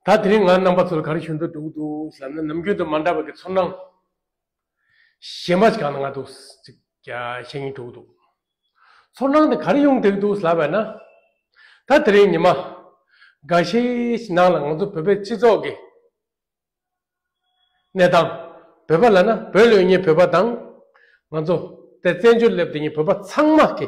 ད་དེ་རིང་ང་རྣམ་པ་ཚོར་ག་རེ་བྱུང་འདུག་འདུག་འདུག་ཟེར་ན་ནམ་རྒྱུན་དུ་མ་འདྲ་བའི་གི་ཚོར་སྣང་གཞན་པ་ཞིག་གང་ན་ང་འདུག་ཅིག་བཤད་ཉེན་འདུག་འདུག་ཚོར་སྣང་དེ་ག་རེ་ཡོང་བསྡད་འདུག་ལབ་པ་ན། ད་དེ་རིང་ཉི་མ་འགའ་ཤས་ནང་ལ་ང་ཚོ་བོད་པའི་སྤྱི་ཚོགས་ཀྱི་གནས་སྟངས་བོད་པ་ལ་ན་བོད་ལོས་ཉེས་བོད་པ་དང་ང་ཚོ་དེ་བཙན་བྱོལ་སླེབས་དེ་ཉིན་བོད་པ་ཚང་མ་གི།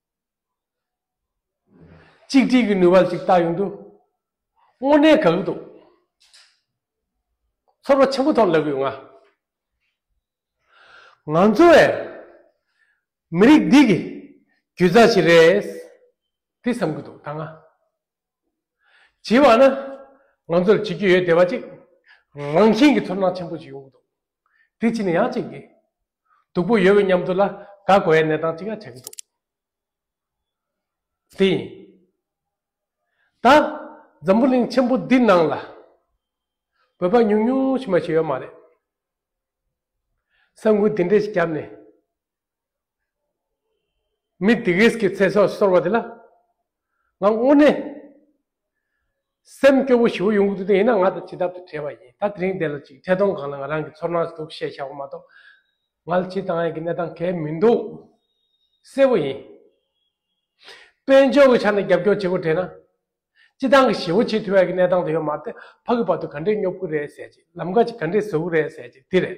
གཅིག་སྒྲིལ་གྱི་ནུས་པ་ཞིག་ལྟ་ཡོང་དུས། དངོས་གནས་དགའ་གི་འདུག་ཚོར་བ་ཆེན་པོ་ཐོབ་ལབ་ཡོད་ང། ང་ཚོ་བས་མི་རིགས་འདི་གི་རྒྱུད་རྩ་ཞིག་རེད་དེ་བསམ་གི་འདུག་ད་ང། བྱེད་པ་ནི་ང་ཚོར་བྱེད་རྒྱུ་ཡོད་བསྡད་པ་ཅིག་རང་བཞིན་གྱི་ཚོར་སྣང་ཆེན་པོ་ཞིག་ཡོང་གི་འདུག་དེ་ཕྱིན་ཡང་ཅིག་གིས་སྡུག་པོ་ཡོད་པའི་མཉམ་དུ་ལ་དགའ་དགོས་པའི་གནས་སྟངས་ཅིག་ཡང་ཆགས་ཀྱི་འདུག་དེ་ཡིན། ད་འཛམ་བུ་གླིང་ཆེན་པོ་འདི་ནང་ལ་བོད་པ་ཉུང་ཉུང་ཞིག་མ་ཞིག་ཡོད་མ་རེད། ས་འགུལ་འདི་འདྲ་ཞིག་བརྒྱབ་ནས་མི་སྡིག་རིས་ཀྱི་ཚེ་སྲོག་གསོར་བ་དེ་ལ་ང་དངོས་གནས་སེམས་སྐྱོ་པོ་ཞེ་པོ་ཡོང་གི་འདུག་དེ་ཡིན་ན་ང་དང་ཇི་ལྟར་དུ་བྲལ་བ་ཡིན་ད་དེ་རིང་དེ་ལ་ཅིག་འཕྲལ་སྡོམ་གང་ལ་ང་རང་གི་ཚོར་སྣང་འདུག་བཤད་བྱ་བ་མ་གཏོགས་ང་ལ་ཇི་ལྟ་ཡང་གི་གནས་སྟངས་གལ་མི་འདུག་གསལ་བོ་ཡིན། དཔལ་འབྱོར་གྱི་ཆ་ནས་རྒྱབ་སྐྱོར་བྱེད་དགོས་དྲན་ན་སྤྱི་བཏང་གི་ཞེ་བོ་བྱེད་ཐུབ་ཡག་གི་གནས་སྟངས་དེ་ཡོད་མ་རེད་ད་ཕ་གི་བར་དུ་ག་འདྲས་སྙོབ་གི་རེད་ཟེར་ཅིག་ལམ་ཁ་ཅིག་ག་འདྲས་བཟོ་གི་རེད་ཟེར་ཅིག་དེ་རེད།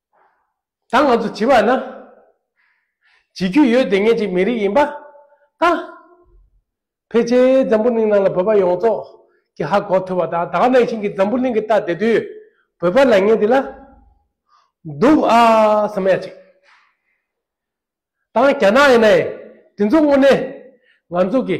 ད་ང་ཚོ་བྱིས་པ་ན། བྱིས་རྒྱུ་ཡོད་དེ་ངེད་ཅིག་མི་རིགས་ཡིན་པ་ད། ཕལ་ཆེར་འཛམ་བུ་གླིང་ནང་ལ་བོད་པ་ཡོངས་རྫོགས་ཀྱི་ཧ་གོ་ཐུབ་པ་ད་ད་ནང་བཞིན་གྱི་འཛམ་བུ་གླིང་གི་ལྟ་དེ་དུས་བོད་པ་ལ་ངེད་འདི་ལ་འདུག་ཨ་སེམས་ཡ་ཅིག་ད་རྒྱ་ནག་ཡིན་ན་ཡིན་དེ་ཚོ་དངོས་གནས་ང་ཚོ་གི།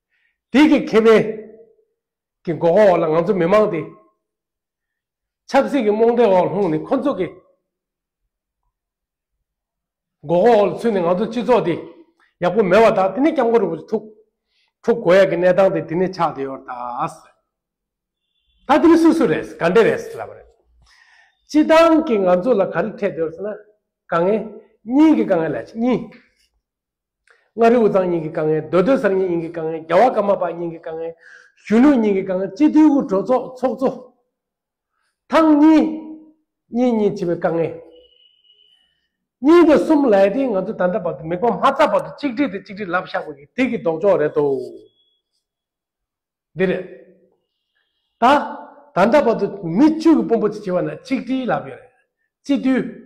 དེ་གི་ཁེ་ཕན་གི་འགོག་རྒོལ་འོག་ལ་ང་ཚོ་མི་དམངས་དེ་ཆབ་སྲིད་ཀྱི་རྨོངས་དད་འོག་ལྷུང་ནས་ཁོ་ཚོ་གི་འགོག་རྒོལ་འོག་ལ་ཚུད་ནས་ང་ཚོ་སྤྱི་ཚོགས་དེ་ཡག་པོ་མེད་བ་དང་དེ་ནས་སྐྱབས་མགོན་རིན་པོ་ཆེ་ཐུགས་ཁྲོ་དགོས་ཡག་གི་གནས་སྟངས་དེ་དེ་ནས་ཆགས་བསྡད་ཡོད་རེད། ད་དེ་ནི་སུ་སུ་རེད་ག་འདྲས་རེད་ལབ་པ་རེད། སྤྱི་བཏང་གི་ང་ཚོ་ལ་ག་རེ་འཕྲད་འདོད་ཟེར་ན་དཀའ་ངལ་གཉིས་ཀྱི་དཀའ་ངལ་ལས་གཉིས། མངའ་རིས་དབུས་གཙང་གཉིས་ཀྱི་དཀའ་ངལ་མདོ་སྟོད་གསར་རྙིང་གཉིས་ཀྱི་དཀའ་ངལ་རྒྱ་བ་ཀརྨ་པ་གཉིས་ཀྱི་དཀའ་ངལ། གཞོན་ནུ་གཉིས་ཀྱི་དཀའ་ངལ་སྤྱི་མཐུན་དབུལ་གྲོལ་ཚོགས་ཚོགས་གཙོ། ཐང་གཉིས། གཉིས་གཉིས་བྱེད་པའི་དཀའ་ངལ། གཉིས་དང་གསུམ་ལའེ་ཏེ་ང་ཚོ་ད་ལྟ་བར་དུ་མིག་དཔངས་མ་བཙགས་བར་དུ་གཅིག་སྒྲིལ་དེ་གཅིག་སྒྲིལ་ལབ་བཞག་པ་གི་དེ་གི་ལྡོག་ཕྱོགས་རེད་དོ། འདི་རེད། ད། ད་ལྟ་བར་དུ་མི་བཅུ་གི་དཔོན་པོ་ཅིག་བྱེད་པ་ན་གཅིག་སྒྲིལ་ལབ་ཡོད་རེད། སྤྱི་མཐུན།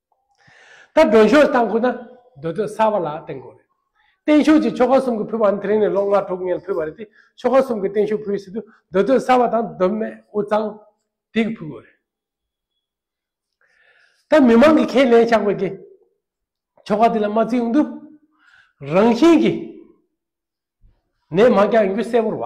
ད་སྒྲོན་ཤོག་བཏང་དགོས་ན་སྡོད་དོད་གསར་བ་ལ་བརྟེན་དགོས་རེད། བརྟན་བཞུགས་ཀྱི་ཆོ་ག་གསུམ་གྱི་ཕུལ་བ་ནི་དེ་རིང་ནས་ལོ་ལྔ་དྲུག་ཉེར་ཕུལ་བ་རེད་དེ་ཆོ་ག་གསུམ་གྱི་བརྟན་བཞུགས་ཕུལ་བའི་ཕྱི་དུས་སྡོད་དོད་གསར་བ་དང་སྡོད་མལ་དབུ་གཙང། དེ་གི་ཕུལ་དགོས་རེད། ད་མི་མང་གི་ཁས་ལེན་བཞག་པའི་གི་ཆོ་ག་དེ་ལ་མ་བརྩི་ཡོང་དུས། རང་བཞིན་གི་ནས་མ་རྒྱག་ཡོང་རྒྱུ་གསལ་བོར་བ།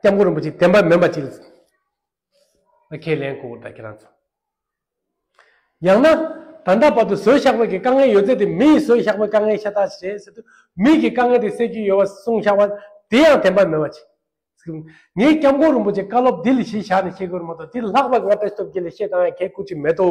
སྐྱབས་མགོན་རིན་པོ་ཆེ་བསྟན་པ་མེད་པ་ཅིག་ལ། ཁས་ལེན་གོ་ད་ཁྱེད་རང་ཚོ། ཡང་ན། ད་ལྟ་བར་དུ་བཟོས་བཞག་པའི་དཀའ་ངལ་ཡོད་ཚད་དེ་མི་ཡིས་བཟོས་བཞག་པའི་དཀའ་ངལ་ཤ་སྟག་ཞིག་རེད་ཟེར་དུས་མི་གིས་དཀའ་ངལ་དེ་སེལ་རྒྱུ་ཡོད་པ་གསུངས་བཞག་པ་དེ་ཡང་བདེན་པ་མེད་པ་ཅིག་ངས་སྐྱབས་མགོན་རིན་པོ་ཆེ་བཀའ་སློབ་འདི་ལས་གཞན་བཞག་ནས་བཤད་དགོས་རེད་མ་གཏོགས་དེ་ལྷག་པར་ང་བེད་སྟོབས་ཀྱིས་ལས་བཤད་གཏང་ཡ་གལ་སྐུ་ཅིག་མེད་དོ།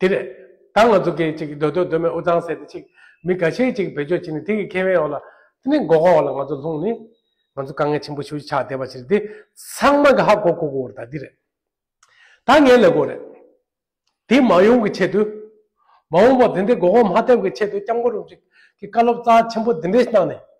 དེ་རེད། ད་ང་ཚོ་གིས་ཅིག་སྡོད་འདོད་འདོད་མོད་འུ་ཚང་ཟེར་ཏེ་ཅིག་མི་ག་ཤེད་ཅིག་བེད་སྤྱོད་བྱེད་ནས་དེ་གི་ཁེ་བའི་འོག་ལ། དེ་ནས་མགོ་སྐོར་བ་ལ་ང་ཚོ་ལྷུང་ནས། ང་ཚོ་དཀའ་ངལ་ཆེན་པོ་ཞུ་ཆགས་བསྡད་པ་ཞིག་རེད་དེ། ཚང་མ་གི་ཧ་གོ་གོ་གོ་རེད་ད་འདི་རེད། ད་ངའི་ལས་སྒོ་རེད། དེ་མ་ཡོང་གི་ཆེད་དུ། མ་འོངས་པར་དེ་འདྲའི་མགོ་སྐོར་མ་ཐེབས་ཀི་ཆེད་དུ་སྐྱབས་མགོ་རུ་ཅིག་གི་བཀའ་སློབ་རྩ་ཆེན་པོ་འདི་འདྲས་གནང་ནས།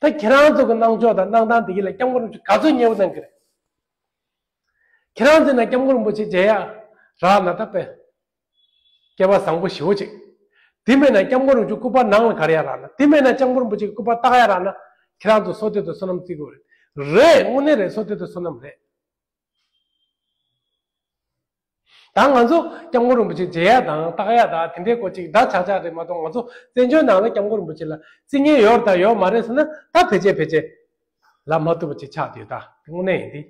ད་ཁྱེད་རང་ཚོ་གི་གནང་ཕྱོགས་དང་གནང་སྟངས་དེ་གིས་ལ་སྐྱབས་མགོན་རིན་པོ་ཆེ་ག་ཚོད་ཉེ་བོ་གནང་གི་རེད། ཁྱེད་རང་ཚོས་ན་སྐྱབས་མགོན་རིན་པོ་ཆེ་མཇལ་ཡག་རག་ན་ད་པེ། སྐལ་པ་བཟང་པོ་ཞི་བོ་ཅིག། དེ་མེད་ན་སྐྱབས་མགོན་རིན་པོ་ཆེ་སྐུ་པར་ནང་ལ་གར་ཡག་རག་ན་དེ་མེད་ན་སྐྱབས་མགོན་རིན་པོ་ཆེ་གི་སྐུ་པར་བཏགས་ཡག་རག་ན་ཁྱེད་རང་ཚོ་སོ་སྟོད་དུ་སོ་ནམ་བརྩི་དགོས་རེད། རེད་དངོས་གནས་རེད་སོ་སྟོད་དུ་སོ་ནམ་རེད། ད་ང་ཚོ་སྐྱབས་མགོན་རིན་པོ་ཆེ་མཇལ་ཡག་དང་བལྟ་ཡག་དག་དེ་འདྲའི་སྐོར་ཅིག་འདྲ་ཆག་ཆག་རེད་མ་གཏོགས་ང་ཚོ་བཙན་བྱོལ་ནང་ལ་སྐྱབས་མགོན་རིན་པོ་ཆེ་ལ་རྩིས་ངན་ཡོད་དང་ཡོད་མ་རེད་ཟེར་ན་ད་བེད་སྤྱད་བེད་སྤྱད་ལབ་མ་ཐུབ་པ་ཅིག་ཆགས་ཡོད་དག་དངོས་གནས་ཡིན་དེ།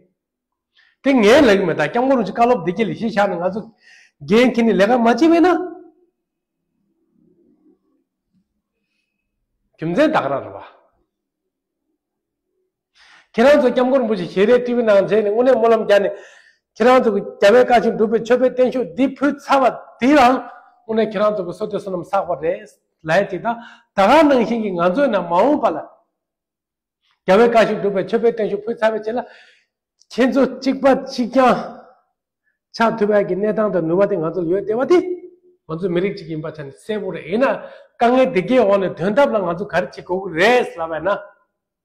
དེ་ངའི་ལེགས་མེད་དག་སྐྱབས་མགོན་རིན་ཆེ་བཀའ་སློབ་བདེ་སྐྱིད་ལས་བཞེས་བཞག་ན་ང་ཚོ་རྒན་མཁན་ནས་ལས་ཀ་མ་བྱེད་བས་ན། རྒྱུ་མཚན་དག་ར་ར་བ། ཁྱེད་རང་ཚོ་སྐྱབས་མགོན་རིན་པོ་ཆེ་ཞལ་རས་ཏི་བི་ནང་མཇལ་ནས་དངོས་གནས་སྨོན་ལམ་བརྒྱབ་ནས། ཁྱེད་རང་ཚོ་གི་རྒྱ་བལ་བཀའ་བཞིན་སྒྲུབ་པའི་མཆོད་པའི་བརྟན་བཞུགས་འདི་ཕུལ་ཚར་བ་དེའི་རང་དངོས་གནས་ཁྱེད་རང་ཚོ་གི་བསོད་བསྟོད་བསོད་ནམས་བསགས་པ་རེད། ལན་ཅིག་དང་ད་ག་ནང་བཞིན་གྱི་ང་ཚོའི་ནང་མ་འོངས་པ་ལ། རྒྱ་བལ་བཀའ་བཞིན་སྒྲུབ་པའི་མཆོད་པའི་བརྟན་བཞུགས་ཕུལ་ཚར་བའི་ཆེད་ལ། ཁྱེད་ཚོ་གཅིག་པ་གཅིག་རྐྱང་ཆགས་ཐུབ་པའི་གི་གནས་སྟངས་དང་ནུས་པ་དེ་ང་ཚོར་ཡོད་བསྡད་པ་དེ། ང་ཚོ་མི་རིགས་གཅིག་ཡིན་པ་ཆ་ནས་གསལ་པོ་རེད་ཡིན་ན་དཀའ་ངལ་དེ་གའི་འོག་ནས་དོན་ཐབས་ལ་ང་ཚོ་ག་རེ་བྱེད་དགོས་ཀྱི་རེད་ཟེར་བས་ན།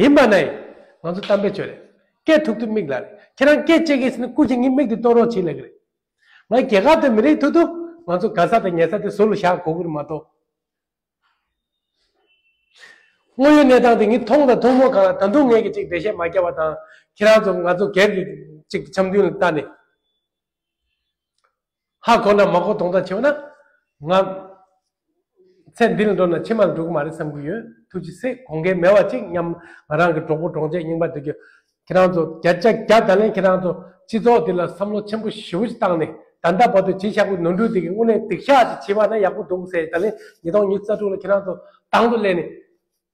ཡིན་པ་ནི། ང་ཚོ་གཏམ་དཔེ་བྱོས་རེད། སྐད་ཐུག་ཐུག་མིག་ལ་རེད། ཁྱེད་རང་སྐད་ཅེས་ཀི་ཟེར་ནས་སྐུ་ཞིག་ངའི་མིག་དུ་གཏོང་རོགས་བྱེད་ལེགས་རེད། ང་རྒྱལ་ཁག་དང་མི་རིགས་ཐུག་ཐུག་ང་ཚོ་དགའ་ས་དང་ཉལ་ས་དེ་ཟུར་ལ་བཞག་གོ་གུར་མ་གཏོགས། དངོས་ཡོད་གནས་སྟངས་དེ་ངས་མཐོང་དང་མཐོང་མུས་གང་ལ་ད་དུང་ངས་ཀི་ཅིག་འགྲེལ་བཤད་མ་རྒྱག་པ་དང་ཁྱེད་རང་ཚོ་ང་ཚོ་སྒེར་གྱི་ཅིག་འཆམ་མཐུན་ལ་ལྟ་ནི། ཧ་གོ་ན་མ་གོ་དོགས་འདྲ་བྱེད་པ་ན། ང། ཚེ་འདི་ལ་འགྲོ་ན་ཕྱི་མ་ལ་འགྲོ་གི་མ་རེད་བསམ་གི་ཡོད། ཐུགས་ཀྱི་སྲས་གོང་ཁའི་མེ་བ་གཅིག་སྙམ། ང་རང་གི་གྲོགས་པོ་གྲོགས་མཆེད་རྙིང་པ་འདི། ཁྱེད་རང་ཚོ་བརྒྱ་ཆ་བརྒྱ་ད་ལན་ཁྱེད་རང་ཚོ་སྤྱི་ཚོགས་འདི་ལ་བསམ་བློ་ཆེན་པོ་ཞེ་བོ་ཞིག་བཏང་ནས་ད་ལྟ་བར་དུ་བྱས་ཤག་པོའི་ནོར་འཁྲུལ་དེ་གི་དངོས་གནས་སྡིག་ཤག་ཅིག་བྱས་པ་ན་ཡག་པོ་འདུག་ཟེར་ད་ལན་ཉིས་སྟོང་ཉིས་རྩ་དྲུག་ལ་ཁྱེད་རང་ཚོ་དང་དུ་སླེབས་ནས།